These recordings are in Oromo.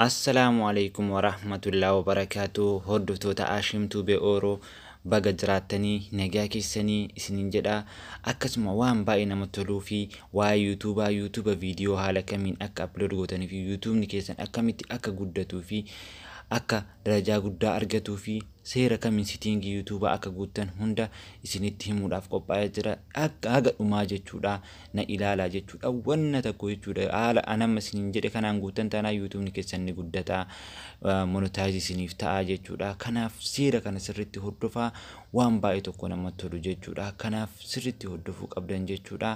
Assalaamu alaikum warahmatullahi wabarakatuh hordoftoota Ashim Tube Oro baga jiraattanii nagaa keessanii isiniin jedha akkasuma waan baay'ee namatti toluu fi waa'ee yuutuubaa yuutuuba viidiyoo haala kamiin akka upload gootanii fi yuutuubni keessan akkamitti akka guddatuu fi akka darajaa guddaa argatuu fi Seera kamiin sitiingii youtube akka guuttan hunda isinitti himuudhaaf qophaa'ee jira akka haga dhumaa jechuudha na ilaalaa jechuudha wanna takko jechuudha haala an amma isiniin jedhe kanaan guuttan taanaa youtubni keessan ni guddata monetize isiniif ta'a jechuudha kanaaf seera kana sirritti hordofaa waan baay'ee tokko nama tolu jechuudha kanaaf sirritti hordofuu qabdan jechuudha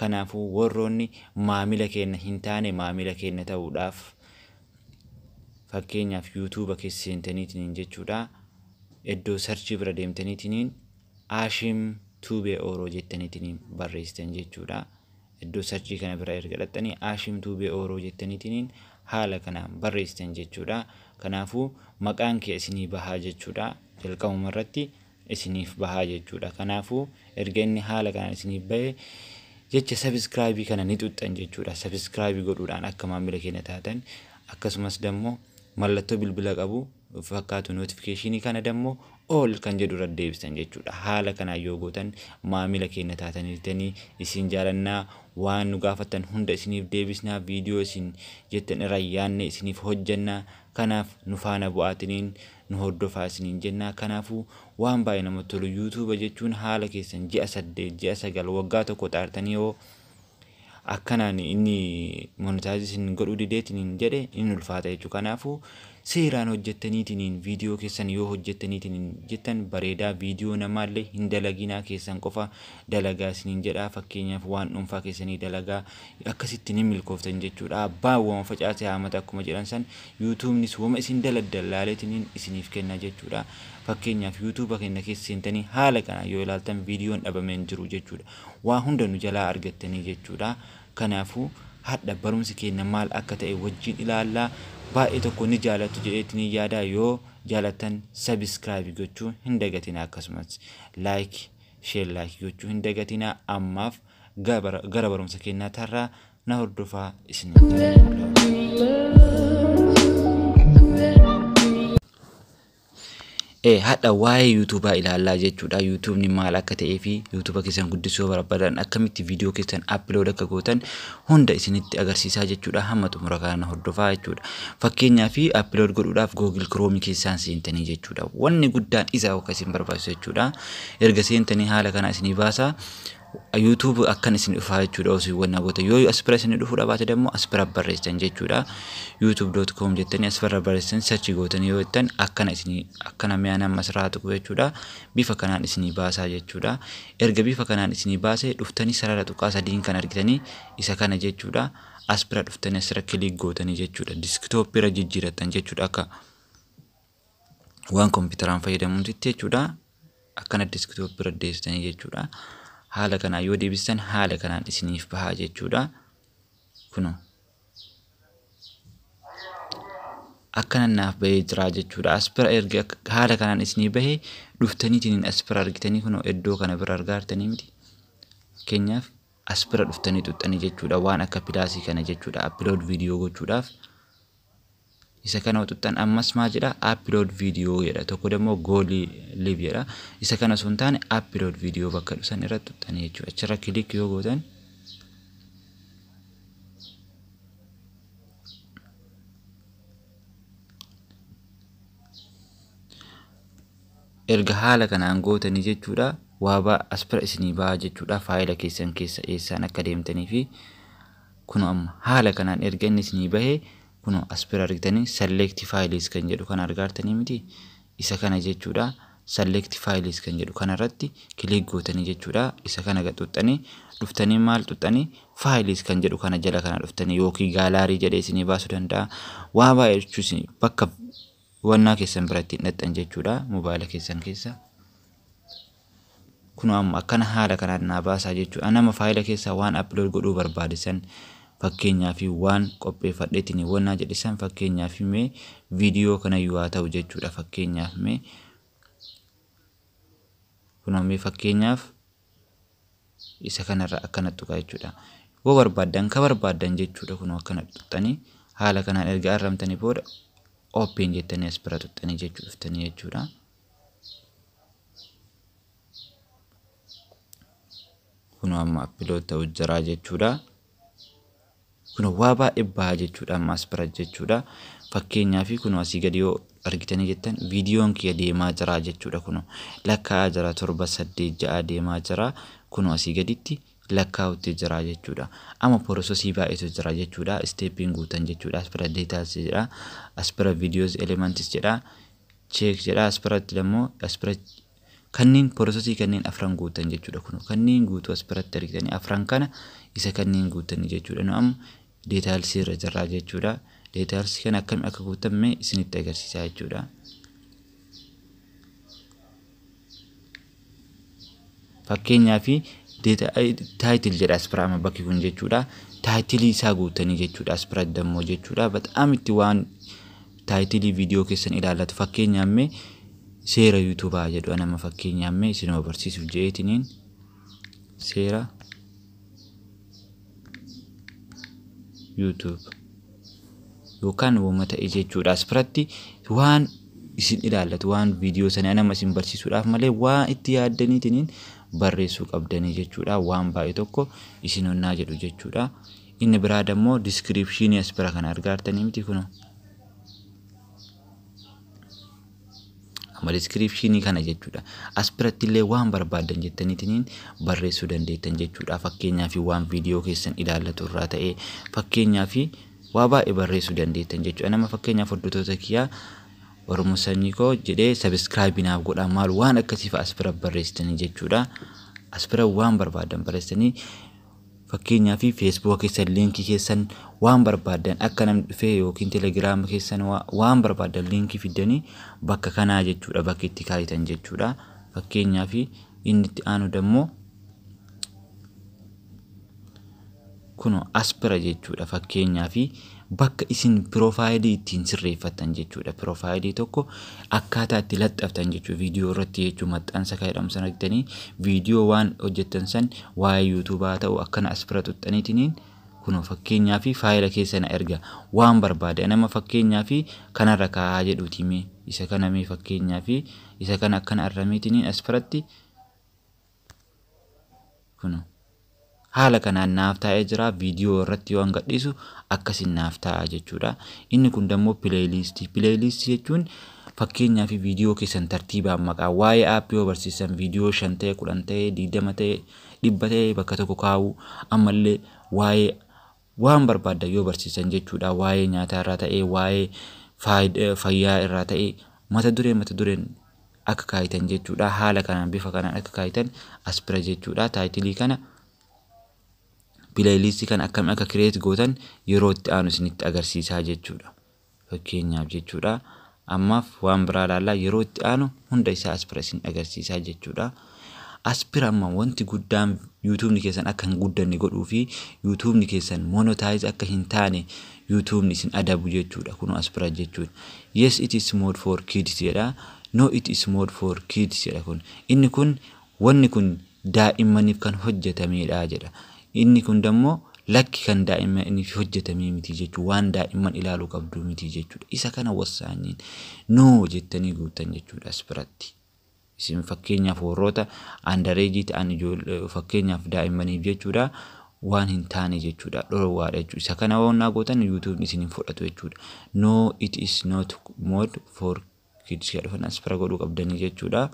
kanaafuu warroonni maamila keenna hin taane maamila keenna ta'uudhaaf Fakkeenyaaf YouTube keessa seentaniitiniin jechuudha. Iddoo sarchii bira deemtaniitiniin Ashim Tube Oro jettaniitiniin barreessitan jechuudha. Iddoo sarchii kana bira erga dhaxxanii Ashim Tube Oro jettaniitiniin haala kanaan barreessitan jechuudha. Kanaafuu maqaan kee isinii bahaa jechuudha. Jalqabuma irratti isiniif baha jechuudha. Kanaafuu erga inni haala kanaan isiniif bahe jecha subscribe kana ni xuxxan jechuudha. Subscribe godhuudhaan akka maamila keenya taatan akkasumas dammoo mallattoo bilbila qabu fakkaatu notification kana dammoo all kan jedhu irra deebisan jechuudha. Haala kanaan yoo gootan maamila keenya taataniitanii isin jaalannaa waan nu gaafattan hunda isiniif deebisnaa viidiyoo isin jettan irraa yaanne isiniif hojjannaa kanaaf nu faana bu'aatiniin nu hordofaa isiniin jennaa kanaafuu waan baay'ee namatti tolu yuutuuba jechuun haala keessan ji'a saddeet ji'a sagal waggaa tokko xaartanii yoo akkanaan inni monitaayiz isin godhuu dideetiniin jedhe in ulfaata jechuudha kanaafuu seeraan hojjettaniitiniin viidiyoo keessan yoo hojjettaniitiniin jettan bareedaa viidiyoo namaallee hin dalaginaa keessan qofa dalagaa isiniin jedhaa fakkeenyaaf waan dhuunfaa keessanii dalagaa Akkasitti ni milkooftan jechuudha. Abbaan woma facaase haamata akkuma jedhan san YouTubenis woma isin daladdan laaleetiniin isiniif kenna jechuudha. Fakkeenyaaf YouTube keenna keessa seentanii haala kanaan yoo ilaaltan viidiyoon dhabame hin jiru jechuudha. Waa hunda nu jalaa argattanii jechuudha. Kanaafuu hadha barumsi keenna maal akka ta'e wajjiin ilaalla. Baay'ee tokko ni jaalattu jedheetiniin yaada. Yoo jaalattan subscribe gochuu hin dagatinaa akkasumas like share like gochuu hin dagatinaa ammaaf gara barumsa kennaa tarraa na hordofaa isiniin jedha. Hadha waa'ee yuutuubaa ilaallaa jechuudha. Yuutuubni maal akka ta'ee fi yuutuuba keessan guddisuu barbaadan akkamitti viidiyoo keessan appilood akka gootan hunda isinitti agarsiisaa jechuudha. Hamma xumura kana hordofaa jechuudha. Fakkeenyaaf appilood godhuudhaaf Google Chrome keessaan seentanii jechuudha. Wanni guddaan isa akka isin barbaachisu jechuudha. Erga seentanii haala kana isinii baasaa. YouTube akkan isin dhufaa jechuudha osoo hin wanna gootan yoo as bira isin dhufuu dhabaate dammoo as bira barreessitan jechuudha youtube.com jettanii as bira barreessitan search gootanii yoo jettan akkana isin akkana mi'a nama asirraa tuqu jechuudha bifa kanaan isinii baasaa jechuudha erga bifa kanaan isinii baasee dhuftanii sarara tuqaa sadiin kan argitanii isa kana jechuudha as bira dhuftanii asirra kiliik gootanii jechuudha diskitooppii irra jijjiirattan jechuudha akka waan kompiitaraan fayyadamuutitti jechuudha. Akkana diskitooppi irra deebistanii jechuudha. Haala kanaan yoo deebistan haala kanaan isiniif bahaa jechuudha. Kuno akkana naaf bahee jira jechuudha. As bira erga haala kanaan isinii bahee dhuftaniitiin as bira argitanii kuno iddoo kana bira argaa jirtanii miti. Fakkeenyaaf as bira dhuftanii xuxxanii jechuudha waan akka pilaasii kana jechuudha. Upload viidiyoo gochuudhaaf. Isa kana utuxxan ammas maa jedha upload video jedha tokko dammoo go live jedha isa kana osoo hin taane upload video bakka dhusan irra tuxxanii jechuudha achirra kilik yoo gootan erga haala kanaan gootanii jechuudha waabaa aspira isinii ba'aa jechuudha faayila keessan keessa eessaan akka deemtanii fi Kunoo amma haala kanaan erga inni isinii bahee kunoo as bira argitanii select files kan jedhu kana argaartanii miti isa kana jechuudha select files kan jedhu kana irratti click gootanii jechuudha isa kana gad xuxxanii dhuftanii maal xuxxanii files kan jedhu kana jala kana dhuftanii yookiin gaalaarii jedhee isinii baasuu danda'a waa baay'ee jechuun bakka Hubannaa keessan bira ittiin dhaqxan jechuudha mobaayila keessan keessa. Kunoo amma akkana haala kanaan naa baasaa jechuudha. Nama faayila keessaa waan upload godhuu barbaade san fakkeenyaa fi waan qopheeffadheetiin wannaa jedhe san fakkeenyaa fi mee viidiyoo kana yoo haa ta'u jechuudha fakkeenyaaf mee kunoo mee fakkeenyaaf isa kanarra akkana tuqaa jechuudha. Yoo barbaaddan ka barbaaddan jechuudha kunoo akkana tuqxanii haala kanaan erga arramtanii booda open jettanii as bira tuqxanii jechuu dhuftanii jechuudha. Kunoo amma upload ta'u jiraa jechuudha. Kun waa baay'ee baha jechuudha amma as bira jechuudha. Fakkeenyaa fi kun asii gadi yoo argitanii jettan viidiyoon kiyya deemaa jira jechuudha kun lakkaa'aa jira torba saddeet ja'a deemaa jira kun asii gaditti lakkaa'utti jira jechuudha. Amma porososii baay'eetu jira jechuudha isteeppiin guutan jechuudha as bira deetaals jedha as bira viidiyoos elementis jedha cheek jedha as biratti immoo as bira Kanneen porosesii kanneen afran guuttan jechuudha kun kanneen guutuu as biratti argitanii afran kana isa kanneen guuttanii jechuudha nu amma deetaalsii irra jirraa jechuudha deetaalsii kana akkamiin akka guuttan mee isinitti agarsiisaa jechuudha. Fakkeenyaa fi taayitil jedha as bira amma bakki kun jechuudha taayitilii isaa guuttanii jechuudha as bira dammoo jechuudha bataam itti waan Taayitilii viidiyoo keessan ilaallatu fakkeenyaaf mee seera yuutuubaa jedhu anama fakkeenyaaf mee isinuma barsiisuuf je'eetiniin seera yuutuub yookaan wama ta'e jechuudha as biratti waan isin ilaallatu waan viidiyoo sana anama isin barsiisuudhaaf malee waan itti yaaddaniitiniin barreessuu qabdanii jechuudha waan baay'ee tokko isin onnaa jedhu jechuudha. Inni biraa dammoo description as bira kana argaa artanii miti kuno. Amma description kana jechuudha. As biratti illee waan barbaadan jettaniitiniin barreessuu dandeettan jechuudha. Fakkeenyaa fi waan viidiyoo keessan ilaallatu irraa ta'ee fakkeenyaa fi waa baay'ee barreessuu dandeettan jechuudha. Nama fakkeenyaaf hordoftoota kiyyaa Oromoo sanyii koo jedhee sabiskiraayibii naaf godhaa maal waan akkasiif as bira barreessitanii jechuudha. As bira waan barbaadan barreessitanii Fakkeenyaaf feesbuuka keessan liinkii keessan waan barbaaddan akka namni dhufee yookiin telegiraama keessan waan barbaaddan liinkii fiddanii bakka kanaa jechuudha bakka itti kaayitan jechuudha. Fakkeenyaaf inni itti aanu dammoo kuno aspira jechuudha fakkeenyaaf bakka isin piroofaayilii ittiin sirreeffattan jechuudha. Piroofaayilii tokko akkaataa itti laxxaftan jechuudha. Viidiyoo irratti jechuun maxxansa kan jedhamu sana argitanii viidiyoo waan hojjettan san waa'ee yuutuubaa ta'u akkana as bira xuxxaniitiniin kunoo fakkeenyaa fi faayila keessa na erga waan barbaade nama fakkeenyaa fi kanarra kaa'aa jedhuutii mee isa kana mee fakkeenyaa fi isa kana akkana arrameetiniin as biratti Kuno. Haala kanaan naaf taa'ee jira viidiyoo irratti yoo gadhiisu akkasiin naaf taa'a jechuudha. Inni kun dammoo pileeyiliistii. Pileeyiliistii jechuun fakkeenyaa fi viidiyoo keessan tartiibaan maqaa waa'ee aappii yoo barsiisan viidiyoo shan ta'e kudhan ta'e digdama ta'e dhibba ta'e bakka tokko kaa'uu ammallee waa'ee Waan barbaaddan yoo barsiisan jechuudha waa'ee nyaataa irraa ta'ee waa'ee fayyaa irraa ta'ee mata duree mata dureen akka kaayitan jechuudha haala kanaan bifa kanaan akka kaayitan as bira jechuudha taayitilii kana pileeyiliistii kana akkamiin akka kireet gootan yeroo itti aanu isinitti agarsiisaa jechuudha. Fakkeenyaaf jechuudha. Ammaaf waan biraa ilaallaa yeroo itti aanu hunda isaa aspira isin agarsiisaa jechuudha. Aspira amma wanti guddaan yuutuubni keessan akka hin guddanne godhuu fi yuutuubni keessan monotaayiz akka hin taane yuutuubni isin adabu jechuudha. Kun aspira jechuudha. Yes it is mode for kids jedha. No it is mode for kids jedha kun. Inni kun Wanni kun daa'immaniif kan hojjatameedha jedha. Inni kun dammoo lakki kan daa'immaniif hojjatamee miti jechuudha. Waan daa'imman ilaaluu qabdu miti jechuudha. Isa kana wassaanyiin no jettanii guuttan jechuudha as biratti. Isin fakkeenyaaf warroota andareejii ta'an fakkeenyaaf daa'immaniif jechuudha waan hin taane jechuudha dhorwaadha jechuudha. Isa kana wannaa gootan yuutuubni isin hin fudhatu jechuudha. No it is not mode for kids jedhu kan as bira godhuu qabdanii jechuudha.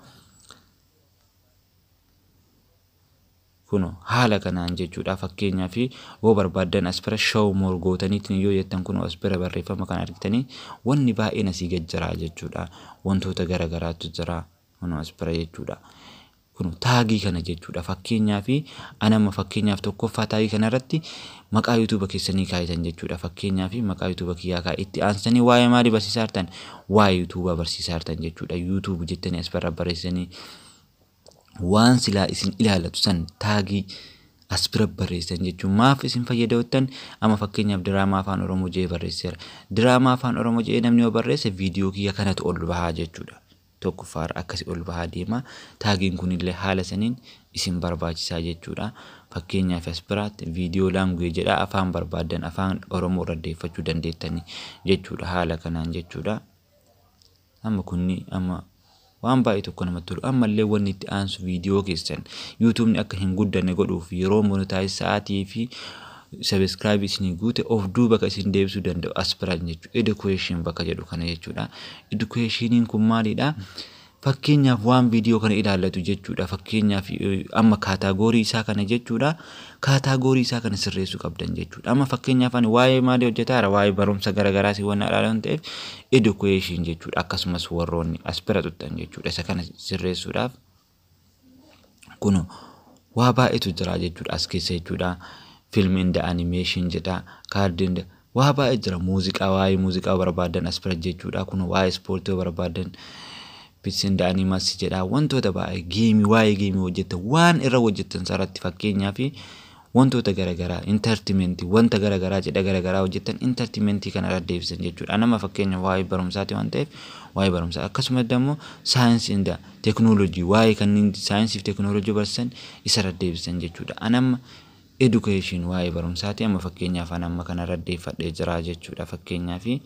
kuno haala kanaan jechuudha fakkeenyaa fi yoo barbaaddan as bira show more gootaniitiin yoo jettan kuno as bira barreeffama kan argitanii wanni baay'een asii gad jira jechuudha wantoota gara garaatu jira kuno as bira jechuudha kuno taagii kana jechuudha fakkeenyaa fi anama fakkeenyaaf tokkoffaa taagii kana irratti Maqaa YouTube kessanii kaayitan jechuudha fakkeenyafi maqaa YouTube kiyyaa kaa itti aansitanii waa'ee maali barsiisaa jirtan waa'ee YouTube barsiisaa jirtan jechuudha YouTube jettanii as barra barreessanii waan silaa isin ilaalatu san taagii as bira barreessan jechuun maaf isin fayyadamtan amma fakkeenyaaf diraamaa afaan oromoo jee barreesseera diraamaa afaan oromoo jee namni yoo barreesse viidiyoo kiyya kanatu ol bahaa jechuudha tokkoffaarra akkasi ol bahaa deema. Taagiin kunillee haala saniin isin barbaachisaa jechuudha. Fakkeenyaaf as biraatti video language jedha afaan barbaaddan afaan Oromoo irra deeffachuu dandeettani jechuudha haala kanaan jechuudha. Amma kunni amma waan baay'ee tokko namatti tolu ammallee wanni itti aansu video keessan YouTube'n akka hin guddanne godhuuf yeroo monetize sa'aatii fi subscribe isinii guute of duuba ka isin deebisuu danda'u as biran jechuudha. Education bakka jedhu kana jechuudha. Educationiin kun maalidha? Fakkeenyaaf waan viidiyoo kana ilaallatu jechuudha. Fakkeenyaaf amma kaataagoorii isaa kana jechuudha. Kaataagoorii isaa kana sirreessuu qabdan jechuudha. Amma fakkeenyaaf ani waa'ee maalii hojjetaara? Waa'ee barumsa garaagaraa si wanna ilaalan ta'eef education jechuudha. Akkasumas warroonni as bira tuttan jechuudha. Isa kana sirreessuudhaaf Kuno waa baay'eetu jira jechuudha as keessa jechuudha. Film and animation jedha. Card and waa baay'ee jira. Muuziqaa waa'ee muuziqaa barbaadan as bira jechuudha. Kuno waa'ee ispoortii barbaadan bits and animals jedha. Wantoota baay'ee geemii waa'ee geemii hojjettan waan irra hojjettan sarratti fakkeenyaaf wantoota garagaraa entertainment wanta garagaraa cidha garagaraa hojjettan entertainment kana irra deebisan jechuudha. Anama fakkeenya waa'ee barumsaati waan ta'eef waa'ee barumsaa akkasumas immoo saayinsii inda teknoolojii waa'ee kanneen saayinsii fi teknoolojii barsiisan isa irra deebisan jechuudha. Anama education waa'ee barumsaati amma fakkeenyaaf anamma kana irra deeffadhee jira jechuudha fakkeenyaa fi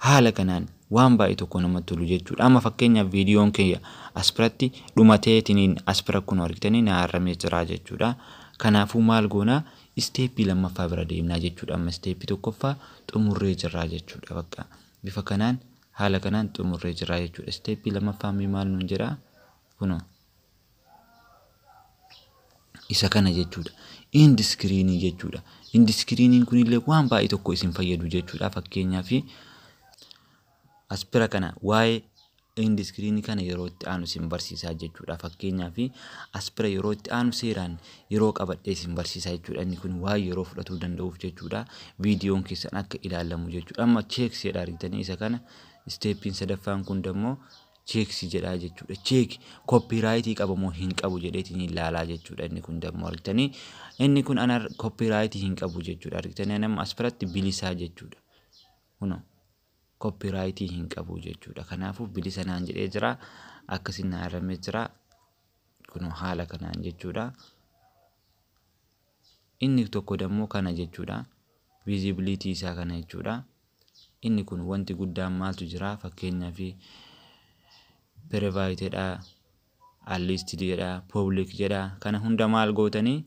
Haala kanaan waan baay'ee tokko namatti tolu jechuudha. Amma fakkeenyaaf viidiyoon kiyya asbiratti dhumateetiniin asbira kunoo argitanii na arramee jira jechuudha. Kanaafuu maal goonaa isteeppii lammaffaa bira deemnaa jechuudha. Amma isteeppii tokkoffaa xumurree jirraa jechuudha bakka. Bifa kanaan haala kanaan xumurree jirraa jechuudha. Isteeppii lammaffaa mee maal nuun jedhaa kunoo. isa kana jechuudha. End screen jechuudha. End screen kun illee waan baay'ee tokko isin fayyadu jechuudha. Fakkeenyaaf as bira kana waa'ee end screen kana yeroo itti aanu isin barsiisaa jechuudha. Fakkeenyaaf as bira yeroo itti aanu seeraan yeroo qabadhee isin barsiisaa jechuudha. Inni kun waan yeroo fudhatuu danda'uuf jechuudha. Viidiyoon keessan akka ilaalamu jechuudha. Amma cheek seedha argitanii isa kana isteeppiin sadaffaan kun dammoo check si jedhaa jechuudha check copyright qaba moo hin qabu jedheetiin ilaalaa jechuudha inni kun dammoo argitanii inni kun ana copyright hin qabu jechuudha argitanii anamma as biratti bilisaa jechuudha kunoo copyright hin qabu jechuudha kanaafuu bilisa naan jedhee jira akkasiin na arramee jira kunoo haala kanaan jechuudha. Inni tokko dammoo kana jechuudha. Visibility isaa kana jechuudha. Inni kun wanti guddaan maaltu jira? Fakkeenyaaf private dha, unlisted jedha, public jedha. Kana hunda maal gootanii?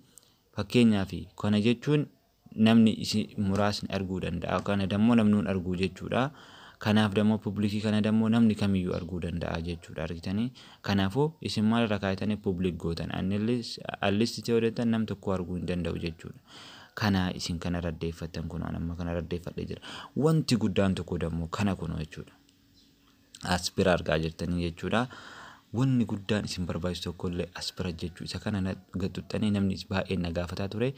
Fakkeenyaaf kana jechuun namni isi muraasni arguu danda'a. Kana dammoo namni hin arguu jechuudha. Kanaaf dammoo public kana dammoo namni kamiyyuu arguu danda'a jechuudha. Argitanii? Kanaafuu isin maal irra kaaytanii public gootan unless at least ta'e odeettan nam tokkoo arguu hin danda'u jechuudha. Kana isin kana irra addeeffattan kunoo an amma kana irra addeeffadhe jira. Wanti guddaan tokko dammoo kana kunoo jechuudha. As bira argaa jirtanii jechuudha. Wanni guddaan isin barbaachisu tokko illee as bira jechuu isa kana na- gad xuxxanii namni is- baay'een na gaafataa ture.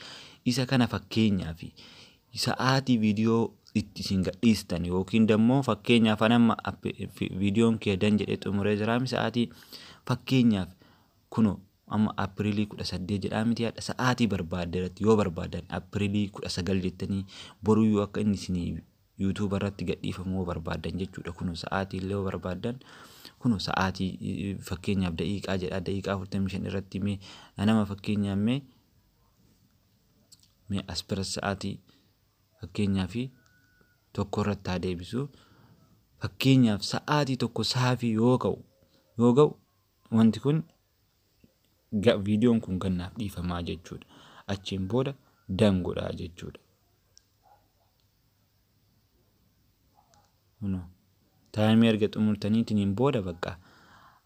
Isa kana fakkeenyaa fi sa'aatii video itti isin gadhiistan yookiin dammoo fakkeenyaaf an amma videon kee dan jedhee xumuree jiraami sa'aatii fakkeenyaaf kuno amma aprilii 18 jedhaa miti hadha sa'aatii barbaadde irratti yoo barbaadan aprilii 19 jettanii boruyyuu akka inni isin yuutuuba irratti gadhiifamu yoo barbaadan jechuudha kuno sa'aatii illee yoo barbaadan kuno sa'aatii fakkeenyaaf da'iiqaa jedhaa da'iiqaa 45 irratti mee nama fakkeenyaaf mee Mee as bira sa'aatii fakkeenyaa fi tokko irratti haa deebisu. Fakkeenyaaf sa'aatii tokko saafii yoo ka'u yoo ga'u wanti kun viidiyoon kun gannaaf dhiifamaa jechuudha. Achiin booda dan godhaa jechuudha. Kuno. Taayimii erga xumurtaniitiniin booda bakka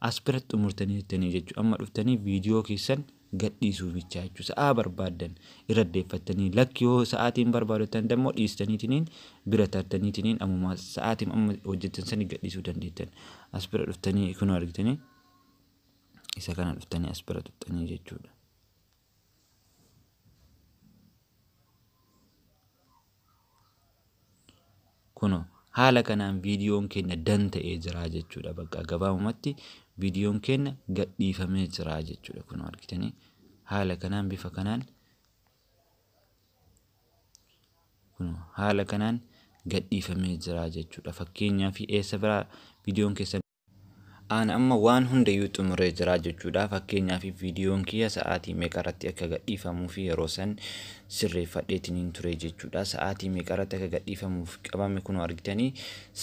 as bira xumurtanii jettanii jechuudha. Amma dhuftanii viidiyoo keessan gadhiisuu bichaa jechuudha. Sa'aa barbaaddan irra deeffattanii lakki yoo sa'aatiin barbaadatan dammoo dhiistaniitiniin bira tartaniitiniin ammumaa sa'aatiin amma hojjettan sani gadhiisuu dandeettan. As bira dhuftanii kunoo argitanii isa kana dhuftanii as bira tuqxanii jechuudha. Kuno haala kanaan viidiyoon keenya dan ta'ee jira jechuudha. Bakka gabaabumatti viidiyoon keenya gadhiifamee jira jechuudha. Kuno argitanii haala kanaan bifa kanaan kuno haala kanaan gadhiifamee jira jechuudha. Fakkeenyaaf eessa biraa viidiyoon keessan An amma waan hundayyuu xumuree jira jechuudha. Fakkeenyaaf viidiyoon kiyya sa'aatii meeqarratti akka gadhiifamuufi yeroo san sirreeffadheetiniin ture jechuudha. Sa'aatii meeqarratti akka gadhiifamuuf qabame kunoo argitanii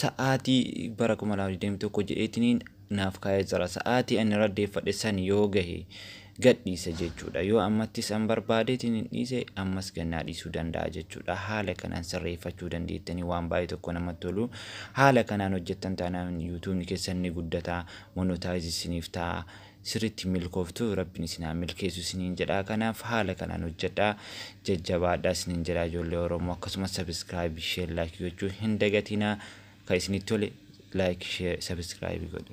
sa'aatii bara 2021 jedheetiniin naaf kaa'ee jira. Sa'aatii ani irra deeffadhe san yoo gahe gadhiisa jechuudha. Yoo ammattis an barbaadeetiin hin dhiise ammas gannaa dhiisuu danda'a jechuudha. Haala kanaan sirreeffachuu dandeettanii waan baay'ee tokko namatti tolu. Haala kanaan hojjettan taanaan yuutuubni keessan ni guddata, monotaayizi isiniif ta'a. Sirriitti milkooftu rabbiin isin haa milkeessu isiniin jedha. Kanaaf haala kanaan hojjedha. Jajjabaadha isiniin jedha ijoollee Oromoo akkasumas sabiskiraayib, sheer, laayik gochuu hin dagatinaa. Ka isinit tole like share subscribe godha.